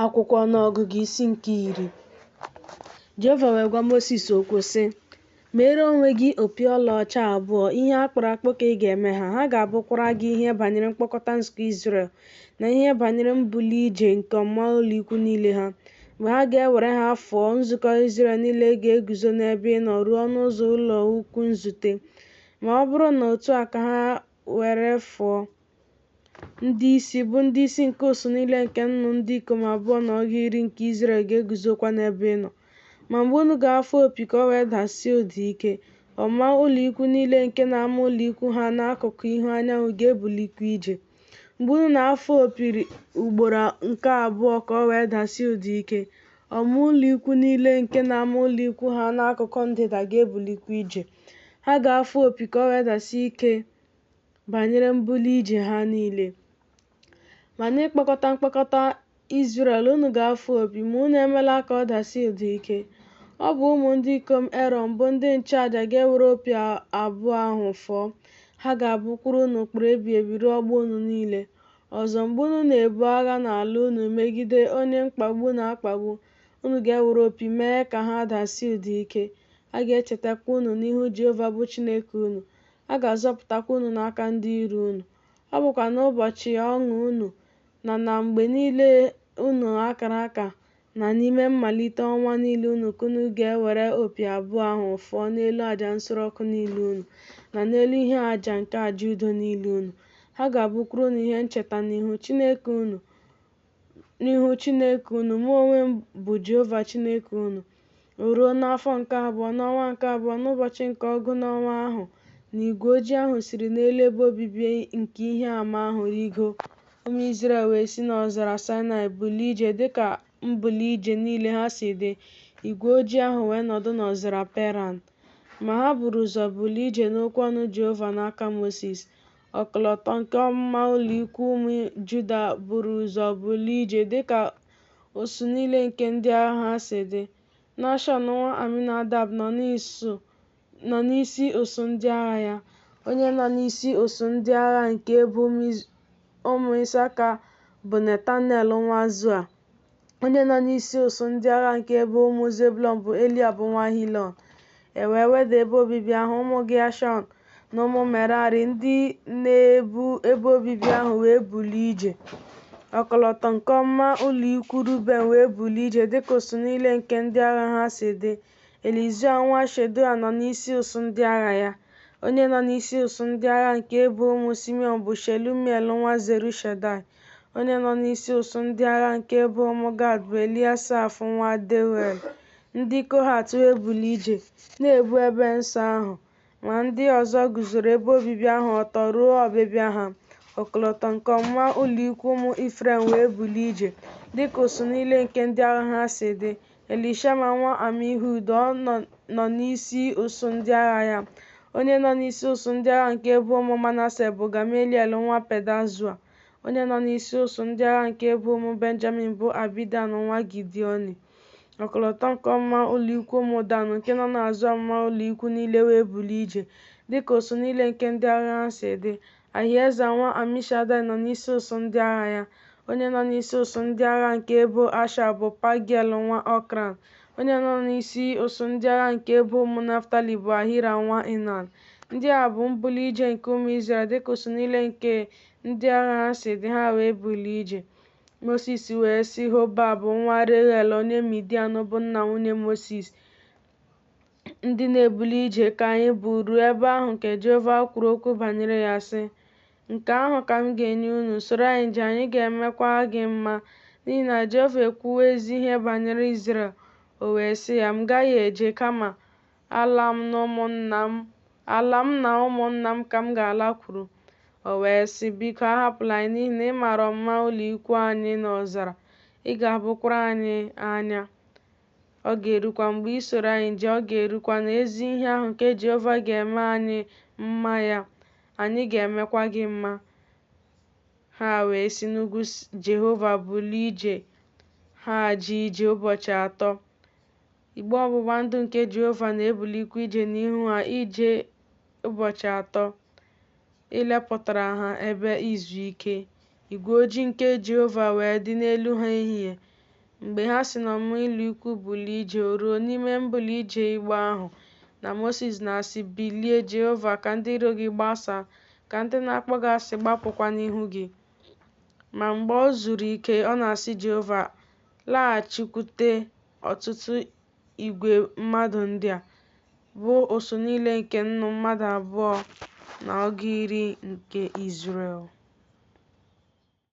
Akwụkwọ Ọnụọgụgụ isi nke iri Jehova wee gwa Mosis okwu sị, Meere onwe gị opi ọlaọcha abụọ, ihe a kpụrụ akpụ ka ị ga-eme ha, ha ga-abụkwara gị ihe banyere mkpọkọta nzukọ Izrel na ihe banyere mbuli ije nke ọmụma ụlọikwu niile ha. Mgbe ha ga-ewere ha fụọ, nzukọ Izrel niile ga-eguzo n'ebe ị nọ ruo ọnụ ụzọ ụlọikwu nzute. Ma ọ bụrụ na otu a ka ha were fụọ, Ndị isi, bụ ndị isi nke usuu niile nke nnụ ndị ikom abụọ na ọgụ iri nke Izrel ga-eguzokwa n'ebe ị nọ. Ma mgbe unu ga-afụ opi ka o wee dasie ụda ike, ọmụma ụlọikwuu niile nke na-ama ụlọikwuu ha n'akụkụ ihu anyanwụ ga-ebulikwa ije. Mgbe unu na-afụ opi ugboro nke abụọ ka o wee dasie ụda ike, ọmụma ụlọikwuu niile nke na-ama ụlọikwuu ha n'akụkụ ndịda ga-ebulikwa ije. Ha ga-afụ opi ka o wee dasie ike. banyere mbuli ije ha niile. Ma n'ịkpọkọta mkpọkọta Izrel unu ga-afụ opi, ma unu emela ka ọ dasie ụda ike. Ọ bụ ụmụ ndị ikom Erọn bụ ndị nchụaja ga-ewere opi abụọ ahụ fụọ. Ha ga-abụkwuru unu ụkpụrụ ebighị ebi ruo ọgbọ unu niile. Ọzọ, mgbe unu na-ebu agha n'ala unu megide onye mkpagbu na-akpagbu, unu ga-ewere opi mee ka ha dasie ụda ike. A ga-echetakwa unu n'ihu Jehova bụ Chineke unu. a ga-azọpụtakwa unu n'aka ndị iro unu. Ọ bụkwa n'ụbọchị ọṅụ unu na na mgbe niile unu a kara aka na n'ime mmalite ọnwa niile unu ka unu ga-ewere opi abụọ ahụ fụọ n'elu aja nsure ọkụ niile unu na n'elu ihe aja nke aja udo niile unu. Ha ga-abụkwuru unu ihe ncheta n'ihu Chineke unu. n'ihu Chineke unu, mụ onwe m bụ Jehova Chineke unu. O ruo n'afọ nke abụọ, n'ọnwa nke abụọ, n'ụbọchị nke ọgụ n'ọnwa ahụ, na igwe ojii ahụ siri n'elu ebe obibi nke ihe ama ahụ rigo, ụmụ Izrel wee si n'ọzara Saịnaị bulie ije dịka mbuli ije niile ha si dị, igwe ojii ahụ wee nọdụ n'ọzara Peran. Ma ha buru ụzọ bulie ije n'okwu ọnụ Jehova n'aka Mosis. Ọkọlọtọ nke ọmụma ụlọikwuu ụmụ Juda buru ụzọ bulie ije dịka usuu niile nke ndị agha ha si dị. Nashọn nwa Aminadab nọ n'isi usuu ndị agha ya. Onye nọ n'isi usuu ndị agha nke ebo ụmụ Isaka bụ Netanel nwa Zua. onye nọ n'isi usuu ndị agha nke ebo ụmụ Zebulọn bụ Eliab nwa Hilọn. E wee weda ebe obibi ahụ, ụmụ Geshọn na ụmụ Merari ndị na-ebu ebe obibi ahụ wee bulie ije. Ọkọlọtọ nke ọmụma ụlọ ikwu Ruben wee bulie ije dịka usuu niile nke ndị agha ha si dị. Elizua nwa Shedeua nọ n'isi usuu ndị agha ya. Onye nọ n'isi usuu ndị agha nke ebo ụmụ Simiọn bụ Shelumiel nwa Zurishadai. Onye nọ n'isi usuu ndị agha nke ebo ụmụ Gad bụ Eliasaf nwa Deuel. Ndị Kohat wee bulie ije, na-ebu ebe nsọ ahụ. Ma ndị ọzọ guzoro ebe obibi ahụ ọtọ ruo ọbịbịa ha. Ọkọlọtọ nke ọmụma ụlọikwuu ụmụ Ifrem wee bulie ije, dịka usuu niile nke ndị agha ha si dị. Elishama nwa Amihud nọ n'isi usuu ndị agha ya. Onye nọ n'isi usuu ndị agha nke ebo ụmụ Manase bụ Gameliel nwa Pedazua. Onye nọ n'isi usuu ndị agha nke ebo ụmụ Benjamin bụ Abidan nwa Gidioni. Ọkọlọtọ nke ọmụma ụlọikwu ụmụ Dan nke nọ n'azụ ọmụma ụlọikwu niile wee bulie ije, dịka usuu niile nke ndị agha ha si dị. Ahieza nwa Amishadaị nọ n'isi usuu ndị agha ya. Onye nọ n'isi usuu ndị agha nke ebo Asha bụ Pagiel nwa Ọkran. Onye nọ n'isi usuu ndị agha nke ebo ụmụ Naftalị bụ Ahira nwa Inan. Ndị a bụ mbuli ije nke ụmụ Izrel dịka usuu niile nke ndị agha ha si dị, ha wee bulie ije. Mosis wee sị Hobab nwa Reuel onye Midian bụ nna nwunye Mosis, Ndị na-ebuli ije ka anyị bụ ruo ebe ahụ nke Jehova kwuru okwu banyere ya sị, Nke ahụ ka m ga-enye unu, soro anyị jee, anyị ga-emekwa gị mma, n'ihi na Jehova ekwuwo ezi ihe banyere Izrel. O wee sị ya, M gaghị eje, kama Ala m na ụmụnna m, ala m na ụmụnna m ka m ga-alakwuru. O wee sị, Biko, ahapụla anyị, n'ihi na ị mara ọmụma ụlọikwuu anyị n'ọzara, ị ga-abụkwara anyị anya. Ọ ga-erukwa, mgbe i soro anyị jee, ọ ga-erukwa na ezi ihe ahụ nke Jehova ga-eme anyị mma ya, anyị ga-emekwa gị mma. Ha wee si n'ugwu Jehova bulie ije, ha jee ije ụbọchị atọ. Igbe ọgbụgba ndụ nke Jehova na-ebulikwa ije n'ihu ha ije ụbọchị atọ ilepụtara ha ebe izu ike. Igwe ojii nke Jehova wee dị n'elu ha ehihie mgbe ha si n'ọmụma ụlọikwu bulie ije. O ruo n'ime mbuli ije igbe ahụ na Mosis na-asị, Bilie, Jehova, ka ndị iro gị gbasaa, ka ndị na-akpọ gị asị gbapụkwa n'ihu gị. Ma mgbe o zuru ike, ọ na-asị Jehova, Laghachikwute ọtụtụ igwe mmadụ ndị a, bụ usuu niile nke nnụ mmadụ abụọ na ọgụ iri nke Izrel.